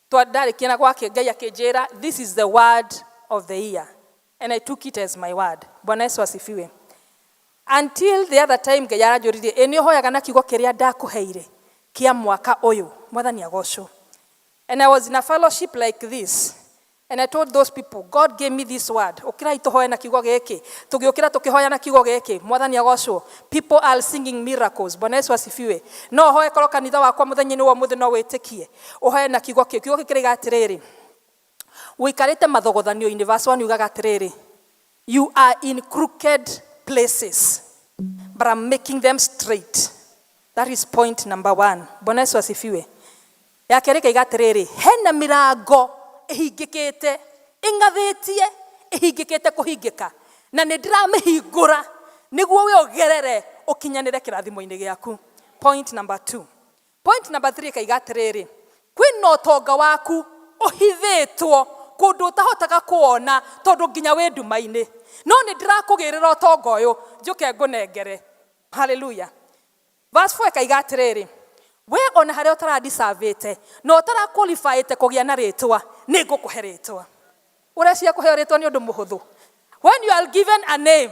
Twa ndarĩkia na gwake Ngai akĩnjĩra this is the word of the year and I took it as my word. Bwana Yesu asifiwe. Until the other time Ngai aranjũririe ĩ nĩ ũhoyaga na kiugo kĩrĩa ndakũheire kĩa mwaka ũyũ. Mwathani agocwo. And I was in a fellowship like this And I told those people, God gave me this word. Ukirai tuhoe na kiugo giki. Tugiukira tukihoya na kiugo giki. Mwathani agocwo. People are singing miracles. Bwana Yesu asifiwe. No hoe koro kanitha wakwa muthenya-ini wa muthi no witikie. Ũhoe na kiugo kĩu. Kiugo kĩu kĩroiga atĩrĩrĩ, ũikarĩte mathogothanio-inĩ. Verse 1 yugaga atĩrĩrĩ, you are in crooked places but I'm making them straight. That is point number one. Bwana Yesu asifiwe. Ya kerĩ kaiga atĩrĩrĩ, hena mĩrango ĩhingĩkĩte, ĩng'athĩtie, ĩhingĩkĩte kũhingĩka, na nĩ ndĩramĩhingũra nĩguo we ũgerere ũkinyanĩre kĩrathimo-inĩ gĩaku. Point number two. Point number three ĩkaiga atĩrĩrĩ, kwĩna ũtonga waku ũhithĩtwo kũndũ ũtahotaga kũwona tondũ nginya wĩ nduma-inĩ, no nĩ ndĩrakũgĩrĩra ũtonga ũyũ njũke ngũnengere. Hallelujah. Verse four ĩkaiga atĩrĩrĩ, we ona harĩa ũtaradicavĩte na ũtarakũlibaĩte kũgĩa na rĩtwa nĩ ngũkũhe rĩtwa. Ũreciria kũheo rĩtwa nĩ ũndũ mũhũthũ? When you are given a name,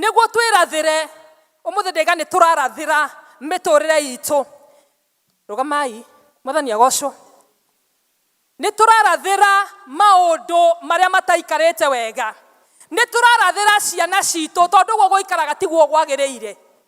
Nĩguo twĩrathĩre, ũmũthĩ ndĩga nĩ tũrarathĩra mĩtũrĩre itũ. Rũgamai, mwathani agocwo. Nĩ tũrarathĩra maũndũ marĩa mataikarĩte wega. Nĩ tũrarathĩra ciana citũ tondũ ũguo gũikaraga tiguo gwagĩrĩire.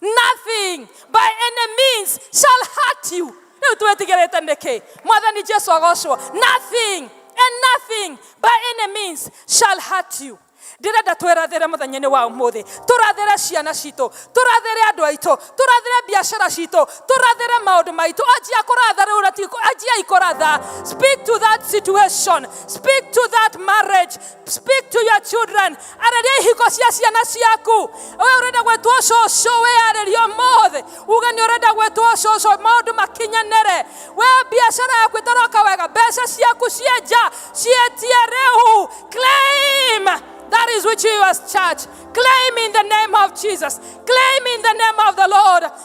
nothing by any means shall hurt you rä u twä tigä rä te nä kä mwathani jesu agocwo nothing and nothing by any means shall hurt you ndĩrenda twĩrathĩre mũthenya-inĩ wa ũmũthĩ tũrathĩre ciana citũ tũrathĩre andũ aitũ tũrathĩre biacara citũ tũrathĩre maũndũ maitũ anjia kũratha rĩu na ti- anjiai kũratha speak to that situation speak to that marriage speak to your children arĩria ihiko cia ciana ciaku we ũrenda gwĩtwo cũcũ wĩarĩria ũmũthĩ uge nĩ ũrenda gwĩtwo cũcũ maũndũ makinyanĩre we biacara yaku ĩtaroka wega mbeca ciaku ciĩ nja ciĩtie rĩu claim that is which you as church claim in the name of jesus claim in the name of the lord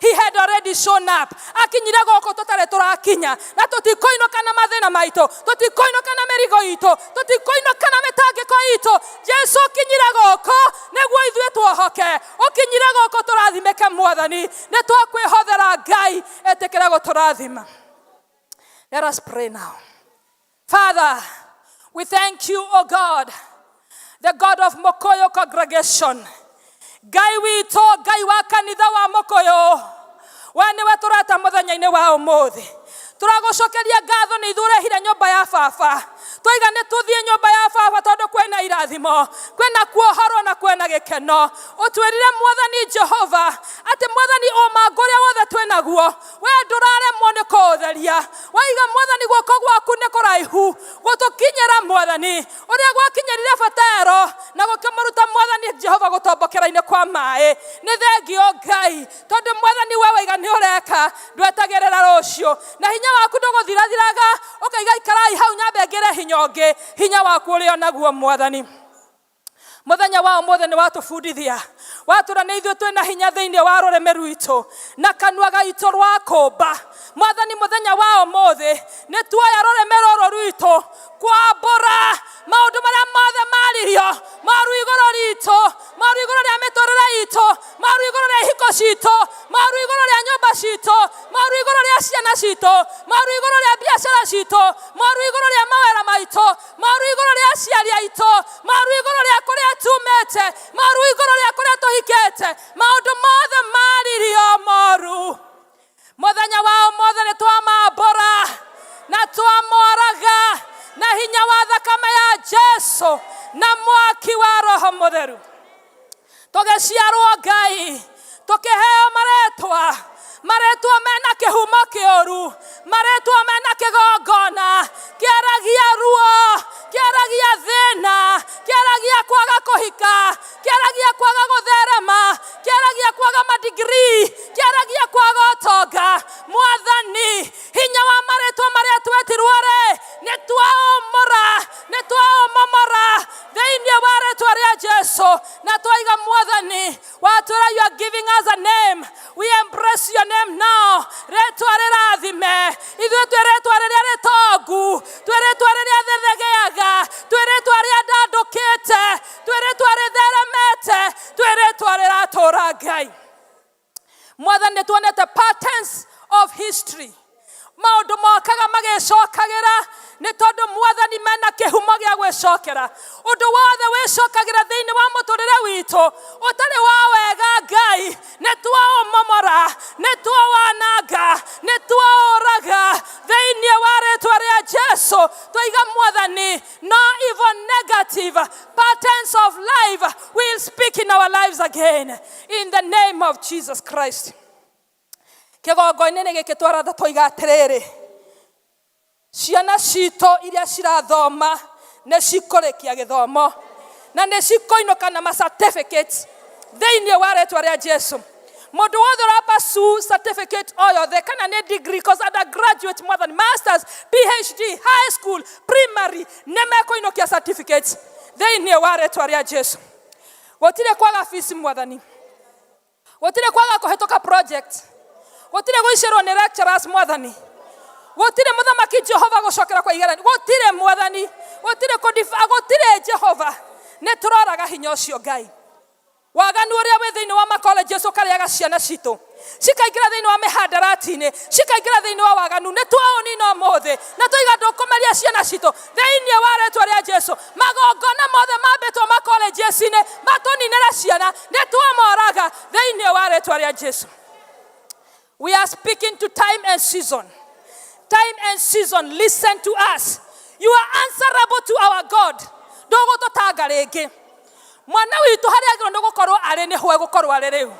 He had already shown up. Akinyire gũkũ tũtarĩ tũrakinya na tũtikoinũka na mathĩna maitũ, tũtikoinũka na mĩrigo itũ, tũtikoinũka na mĩtangĩko itũ. Jesu ũkinyire gũkũ nĩguo ithuĩ tuohoke, ũkinyire gũkũ tũrathimĩke Mwathani, nĩ twakwĩhothera Ngai etĩkĩre gũtũrathima. Let us pray now. Father, we thank you, O God, the God of Mokoyo congregation. Ngai witũ, Ngai wa kanitha wa Mokoyo, we nĩwe tũrata mũthenya-inĩ wa ũmũthĩ. Tũragũcokeria ngatho nĩ ithurehire nyũmba ya baba. Twaiga nĩ tũthiĩ nyũmba ya baba tondũ kwĩna irathimo, kwĩna kuohorwo na kwĩna gĩkeno. Ũtwĩrire Mwathani Jehova atĩ Mwathani ũmangũ ũrĩa wothe twĩnaguo we ndũraremwo nĩ kũũtheria waiga mwathani guoko gwaku nĩ kũraihu gũtũkinyĩra mwathani ũrĩa gwakinyĩrire batero na gũkĩmũruta mwathani jehova gũtombokera-inĩ kwa maĩ nĩ thengio ngai tondũ mwathani we waiga nĩ ũreka ndwetagĩrĩra rũciũ na hinya waku ndũgũthirathiraga ũkaiga ikarai hau nyambe ngĩre hinya ũngĩ hinya waku ũrĩ o naguo mwathani Mũthenya wa ũmũthĩ nĩ watũbundithia watũra nĩ ithuĩ twĩ na hinya thĩinĩ wa rũrĩmĩ rwitũ na kanua gaitũ rwa kũmba. Mwathani mũthenya wa ũmũthĩ nĩ tuoya rũrĩmĩ rũrũ rwitũ kwambũra maũndũ marĩa mothe maririo moru igũrũ ritũ, moru igũrũ rĩa mĩtũrĩre itũ, moru igũrũ rĩa ihiko citũ, moru igũrũ rĩa nyũmba citũ, moru igũrũ rĩa ciana citũ, moru igũrũ rĩa biacara citũ, moru igũrũ rĩa mawĩra maitũ, maru igũrũ rĩa aciari aitũ maru igũrũ rĩa kũrĩa tumĩte maru igũrũ rĩa kũrĩa tũhikĩte maũndũ mothe maririo moru mũthenya wao mothe nĩ twamambũra na twamoraga na hinya wa thakame ya jesu na mwaki wa roho mũtheru tũgĩciarwo ngai tũkĩheo marĩtwa marĩtwa mena kĩhumo kĩũru marĩtwa mena kĩgongona kĩaragia ruo kĩaragia thĩna kĩaragia kwaga kũhika kĩaragia kwaga gũtherema kĩaragia kwaga madigiri kĩaragia kwaga ũtonga mwathani hinya wa marĩtwa marĩa twetirwo rĩ nĩ twaũmũra nĩ twaũmomora thĩinĩ wa rĩtwa rĩa jesu na twaiga mwathani watwĩra you are giving us a name we embrace your name now rĩtwa rĩrathime ithuĩ twĩ rĩtwa rĩrĩa rĩtongu twĩ rĩtwa rĩrĩa thĩthegeaga twĩ rĩtwa rĩa ndandũkĩte twĩ rĩtwa rĩtheremete twĩ rĩtwa rĩratũra ngai mwathani nĩ tuonete patterns of history maũndũ mokaga magĩcokagĩra nĩ tondũ mwathani mena kĩhumo gĩa gwĩcokera ũndũ wothe wĩcokagĩra thĩinĩ wa mũtũrĩre witũ ũtarĩ wa wega ngai nĩ twaũmomora nĩ twawananga nĩ twaũraga thĩinĩ wa rĩtwa rĩa jesu twaiga mwathani no evil negative patterns of life will speak in our lives again in the name of jesus christ kĩgongo-inĩ gĩkĩ twaratha toiga atĩrĩrĩ ciana citũ iria cirathoma nĩ cikũrĩkia gĩthomo na nĩ cikũinũka na ma certificate thĩinĩ wa rĩtwa rĩa jesu mũndũ wothe ũrapasu certificate o yothe kana nĩ degree cause undergraduate more than masters phd high school primary nĩ mekũinũkia certificate thĩinĩ wa rĩtwa rĩa jesu gutire kwaga fees mwathani gutire kwaga kuhituka project gutire guicirwo ni lecturers mwathani gutire muthamaki jehova gucokera kwa igerani gutire mwathani gutire kudifa gutire jehova ni turoraga hinya ucio ngai waganu uria wi thiini wa makoleji ucio ukarĩaga ciana citũ cikaingĩra thĩinĩ wa mĩhandarati-inĩ cikaingĩra thĩinĩ wa waganu nĩ twaũnina ũmũthĩ na tũiga ndũkũmeria ciana citũ thĩinĩ wa rĩtwa rĩa jesu magongona mothe mambĩtwo makolenjeci-inĩ matũninĩre ciana nĩ twamoraga thĩinĩ wa rĩtwa rĩa jesu we are speaking to time and season time and season listen to us you are answerable to our god ndũgũtũtanga rĩngĩ mwana witũ harĩa agĩrwo nĩ gũkorwo arĩ nĩ hoe gũkorwo arĩ rĩu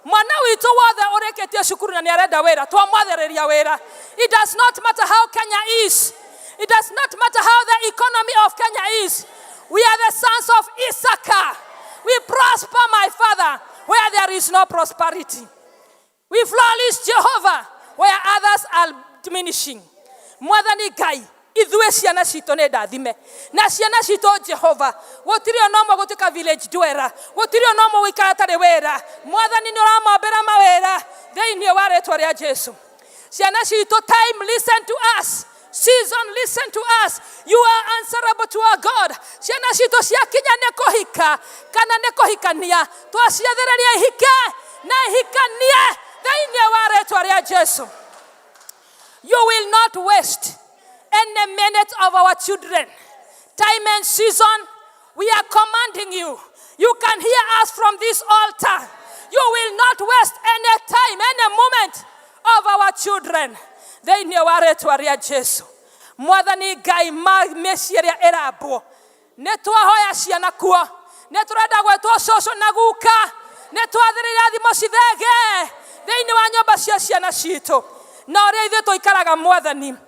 mwana witũ wothe ũrĩkĩtie cukuru na nĩ arenda wĩra twamwathĩrĩria wĩra it does not matter how kenya is it does not matter how the economy of kenya is we are the sons of isaka we prosper my father where there is no prosperity We flourish Jehovah where others are diminishing. Mwathani Ngai, ithuĩ ciana citũ nĩ ndathime na ciana citũ Jehova gũtirĩ ona ũmwe gũtuĩka village dweller gũtirĩ ona ũmwe gũikara atarĩ wĩra mwathani nĩ ũramombera mawĩra thĩinĩ wa rĩtwa rĩa Jesu ciana citũ time listen to us Season, listen to us. You are answerable to our God. Ciana citũ ciakinya nĩ kũhika kana nĩ kũhikania. Twaciathĩrĩria ihike na ihikanie thĩinĩ wa rĩtwa rĩa Jesu. You will not waste any minute of our children. Time and season We are commanding you. You can hear us from this altar. You will not waste any time, any moment of our children. Thĩinĩ wa rĩtwa rĩa Jesu. Mwathani Ngai ma mĩciĩ ĩrĩa ĩrambwo. Nĩ twahoya ciana kuo. Nĩ tũrenda gwĩtwo cũcũ na guka. Nĩ twathĩrĩire thimo cithege thĩinĩ wa nyũmba cia ciana citũ. Na ũrĩa ithuĩ tũikaraga mwathani.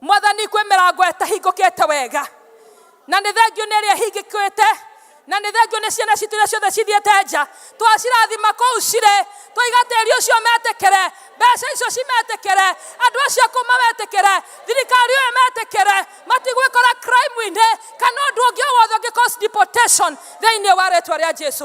mwathani kwĩ mĩrango ĩtahingũkĩte wega na nĩ thengio nĩ ĩrĩa ĩhingĩkĩte na nĩ thengio nĩ ciana citũ iria ciothe cithiĩte nja twacirathima kũu cirĩ twaiga tĩri ũcio metĩkĩre mbeca icio cimetĩkĩre andũ acio kũu mametĩkĩre thirikari ũyũ metĩkĩre matigwĩkora crime-inĩ kana ũndũ ũngĩ o wothe ũngĩ cause deportation thĩinĩ wa rĩtwa rĩa jesu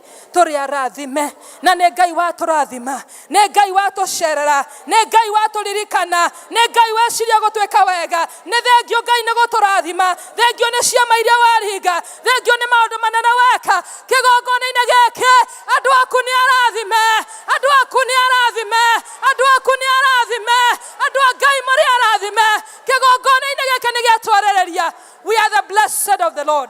tũrĩ arathime na nĩ ngai watũrathima nĩ ngai watũcerera nĩ ngai watũririkana nĩ ngai weciria gũtwĩka wega nĩ thengio ngai nĩ gũtũrathima thengio nĩ ciama iria waringa thengio nĩ maũndũ manene weka kĩgongona-inĩ gĩkĩ andũ aku nĩ arathime andũ aku nĩ arathime andũ aku nĩ arathime andũ a ngai marĩ arathime kĩgongona-inĩ gĩkĩ nĩ gĩatwarĩrĩria we are the blessed of the lord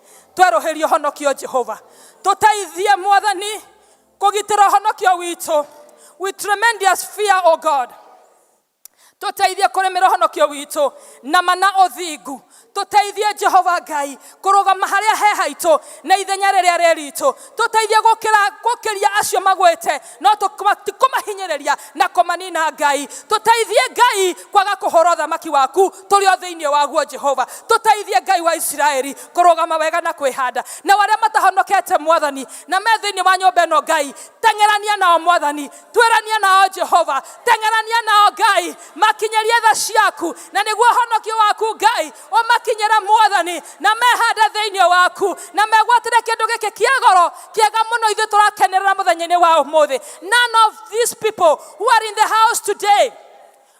Twerũhĩrie ũhonokio Jehova. Tũteithie Mwathani kũgitĩra ũhonokio witũ. With tremendous fear, O God. Tũteithie kũrĩmĩra ũhonokio witũ na mana ũthingu. Tũteithie Jehova Ngai kũrũgama harĩa he haitũ na ithenya rĩrĩa rĩritũ. Tũteithie gũkĩra gũkĩria acio magwĩte no tũkwa- ti kũmahinyĩrĩria na kũmanina ngai tũteithie ngai kwaga kũhũra ũthamaki waku tũrĩ o thĩinĩ waguo jehova tũteithie ngai wa isiraeli kũrũgama wega na kwĩhanda na arĩa matahonokete mwathani na me thĩinĩ wa nyũmba ĩno ngai teng'erania nao mwathani twĩrania nao jehova teng'erania nao ngai makinyĩrie tha ciaku na nĩguo ũhonokio waku ngai ũmakinyĩre mwathani na mehande thĩinĩ waku na megwatĩre kĩndũ gĩkĩ kĩa goro kĩega mũno ithuĩ tũrakenerera mũthenya-inĩ wa ũmũthĩ none of these people who are in the house today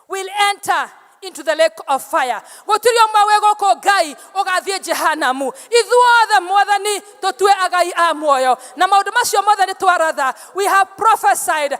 will enter into the lake of fire gũtirĩ ũmwe wĩ gũkũ ngai ũgathiĩ jehanamu ithuothe mwathani tũtue agai a muoyo na maũndũ macio mothe nĩ twaratha we have prophesied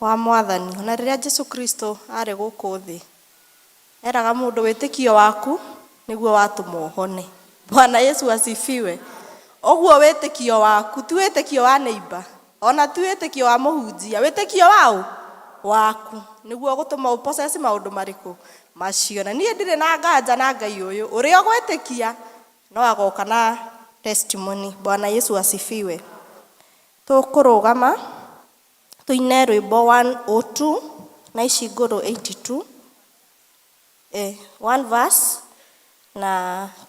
wa Mwathani. O na rĩrĩa Jesu Kristo arĩ gũkũ thĩ, eraga mũndũ wĩtĩkio waku nĩguo watũmwo ũhone. Bwana Yesu asifiwe. Ũguo wĩtĩkio waku, ti wĩtĩkio wa neighbor, o na ti wĩtĩkio wa mũhunjia, wĩtĩkio wa ũ? Waku. Nĩguo ũgũtũma ũ possess maũndũ marĩkũ? Macio. Na niĩ ndirĩ na nganja na Ngai ũyũ, ũrĩa ũgwĩtĩkia no agoka na testimony. Bwana Yesu asifiwe. Tũkũrũgama tũine rwĩmbo 102 na ici ngũrũ 82 eh, one verse na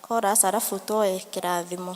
chorus arabu tuoe kĩrathimo.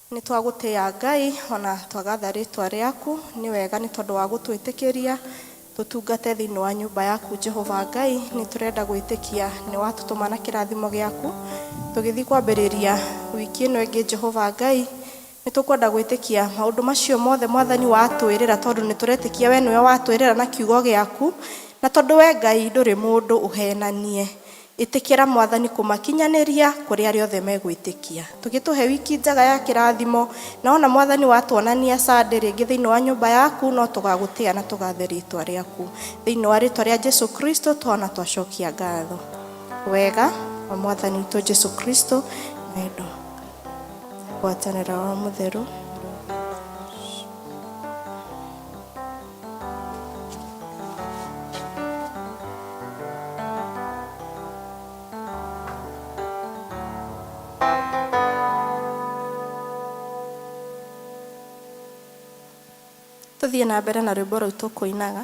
Nĩ twagũtĩĩa Ngai o na twagatha rĩĩtwa rĩaku. Nĩ wega nĩ tondũ wa gũtwĩtĩkĩria tũtungate thĩinĩ wa nyũmba yaku Jehova Ngai. Nĩ tũrenda gwĩtĩkia nĩ watũtũma na kĩrathimo gĩaku. Tũgĩthiĩ kwambĩrĩria wiki ĩno ĩngĩ Jehova Ngai, nĩ tũkwenda gwĩtĩkia maũndũ macio mothe Mwathani watwĩrĩra tondũ nĩ tũretĩkia we nĩwe watwĩrĩra na kiugo gĩaku. Na tondũ we Ngai ndũrĩ mũndũ ũhenanie, Ĩtĩkĩra Mwathani kũmakinyanĩria kũrĩ arĩa othe megwĩtĩkia. Tũgĩtũhe wiki njega ya kĩrathimo, na wona Mwathani watuonania Sunday rĩngĩ thĩinĩ wa nyũmba yaku, no tũgagũtĩa na tũgathe rĩtwa rĩaku. Thĩinĩ wa rĩtwa rĩa Jesu Kristo tũhona twacokia ngatho. Wega wa Mwathani witũ Jesu Kristo, wendo, na ngwatanĩro ya Roho Mũtheru. tũthiĩ na mbere na rwĩmbo rũu tũkũinaga